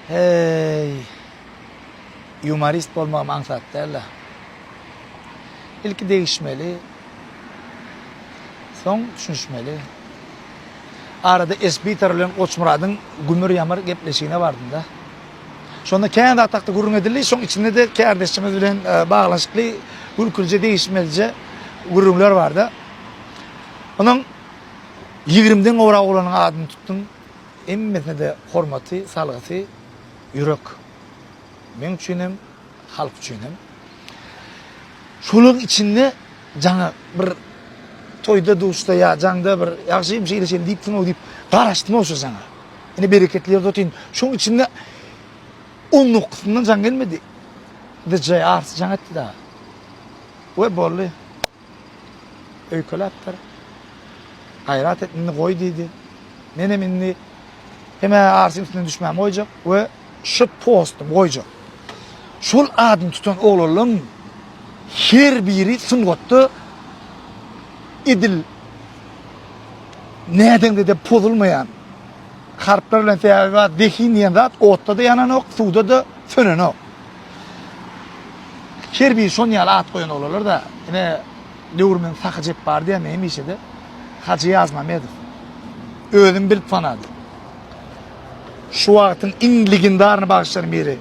Heý. Ýumorist bolmagym aňsat dälda. Ilki degişmeli. Soň düşünişmeli. Arada Esbitar bilen Goçmyradyň gümür-ýamyr gepleşigine bardym-da. Şonda kän zat hakda gürrüň edildi, şoň içinde-de kärdeşimiz bilen e, baglanyşykly gülkülije degişmelije gürrüňler barda. Onuň 20-den gowrak oglanyň adyny tutdum. Hemmesine-de hormaty, salgysy ýürek. Meň üçin hem, halk üçin hem. Şolaryň içinde jaňa bir toýda-duşda ýa jaňda bir ýagşym şeýle-şeýle diýipsiň-ow diýip garaşdym-ow şo jaňa. Ine bereketli ýerde otyryn. Şoň içinde on dokuzyndan jaň gelmedi. DJ Ars jaň etdi dagy. We boldy. Öýkeläpdir. Gaýrat et, indi goý diýdi. Menem indi hem-ä arşyň üstüne düşmämi goýjak we şu postumy goýjak. Şol adyny tutan oglanlaryň her biri sungatda edil nädeňde-de pozulmaýan harplar bilen sebäbi bar, zehin diýen zat otda-da ýananok, suwda-da sönenok. Her biri şon ýaly at goýan olalarda ine döwürmiň Sahy Jepbary diýen hemişede Hajy Ýazmamedow özüm bilip tanadym. Şu wagtyň iň legendaryny bagşylaryň biri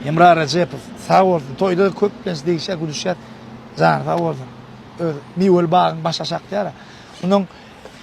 Hemra Rejepow sag bolsun toýda köplenç degişýär gülüşýär jany sag bolsun öz miweli bagyň baş aşak diýýär. Şundan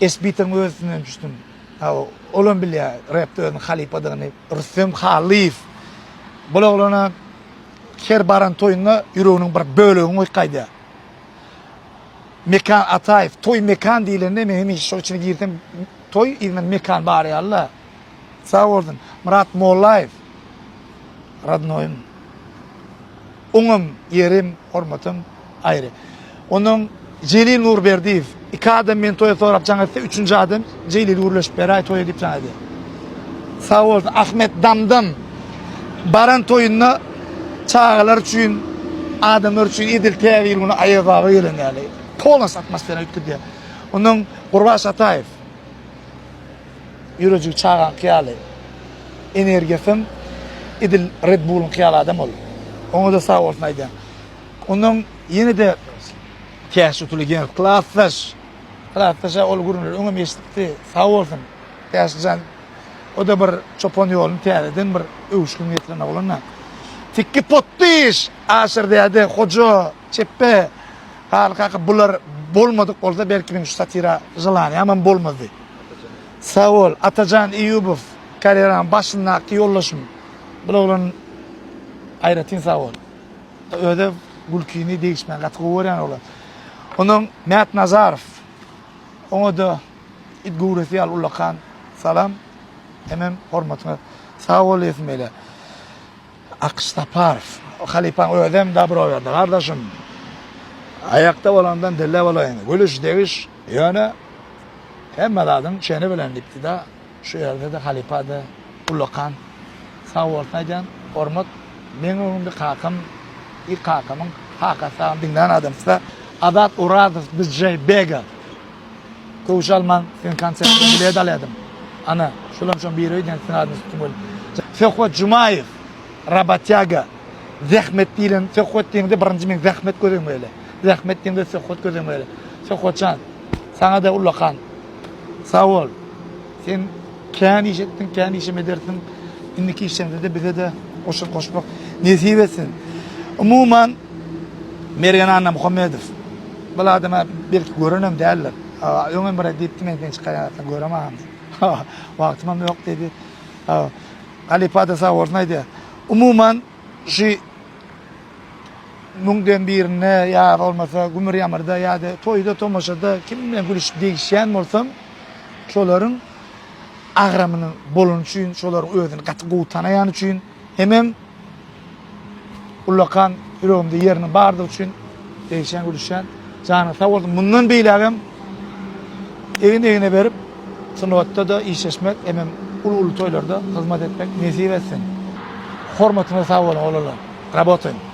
esbitin özünden düşdüm. Hawa, olam bilýär repde özüniň halypadygyny Rüstem Hallyýew. Bul oglana her baran toýunda ýüreginiň bir bölegini goýup gaýdýar. Mekan Ataýew, toý Mekan diýlende men hemişe şol içine girsem toý yzyndan Mekan barýarla. Sag bolsun. Myrat Mollaýew. Radnoýym. Oňam ýerim, hormatym aýry. Ondan Jelil Nurberdiýew, Iki adam meni toýa sorap jaň etse, üçünji adam Jelil gürleşip beräý toýa diýip jaň edýär. Sag bolsun. Ahmet Damdam baran toýunda çagalar üçin, adamlar üçin edil Täze ýyl güni Aýaz baba gelen ýaly, polnosy atmosfera üýtgedýär. Ondan Gurbaş Ataýew. Ýürejigi çagaňky ýaly. Energiýasam edil Red Bullyňky ýaly adam ol. Oňa-da sag bolsun aýdýan. Ondan ýene-de Täş utuly geň klasdaş. Klasdaş-a ol gürrüňleri öňem eşidipdi. Sag bolsun. Täşlijan o-da bir çopan ýoluny täzeden bir öwüşgin getiren oglan-da. Tikki potdyş! Aşyr däde, Hoja, Çepbe, Haly kaka bular bolmadyk bolsa belki men şu satira želanýamam bolmazdy. Sag bol Atajan Eýubow karýeraň başyndaky ýoldaşym bul oglan aýratyn sag bol. Öde gülkini degişmän gaty gowy görýän oglan. Ondan Mät Nazarow oňada it göwresi ýaly ullakan salam hemem hormatyňa sag bol diýesim gelýär. Akyş Saparow halypaň özem dabro berdi gardaşym. Aýakda bolandan dille bolaýyň. Gülüş, degiş, ýöne hemme zadyň çeni bilen diýipdi-de, şu ýerde-de halypa-da ullakan sag bolsun aýdýan. Hormat, meň öňümde kakam ilk kakamyň kakasy diňlän adamsy Azat Orazow DJ Bega Köwüş almaň sen konsertde bilet alýadyň. Ana, şulam şoň biri öýdýän siziň adyňyz tutdum welin. Söhbet Jumaýew, Rabatýaga, Zähmet diýlen söhbet diýiňde birinji men zähmet göz öňüme gele. Zähmet diýiňde söhbet göz öňüme gele. Söhbetjan, saňa-da ullakan. Sag bol. Sen kän iş etdiň, kän işem edersiň. Indiki işleňde-de bize-de goşant goşmak nesip etsin. Umuman, Mergen Annamuhammedow, Bul adama belki görenem däldir. Öňem bir diýipdi men seni çykarýan göremagam diýip. Wagtymam ýok diýdi. Halypada sag bolsun aýdýar. Umuman şu müňden birinde ýa bolmasa gümür ýamyrda ýa-da toýda tomaşada kim bilen gülüşip degişýän bolsam şolaryň agramynyň bolany üçin şolaryň özüni gaty gowy tanaýany üçin Hemem ullakan ýüregimde ýeriniň bardygy üçin degişýän gülüşýän. Janyň sag bolsun. Mundan beýlägem egin egne berip sungatda-da işleşmek hemem uly uly toýlarda hyzmat etmek nesip etsin. Hormatyňyza sag boluň oglanlar. Rabotaýyň.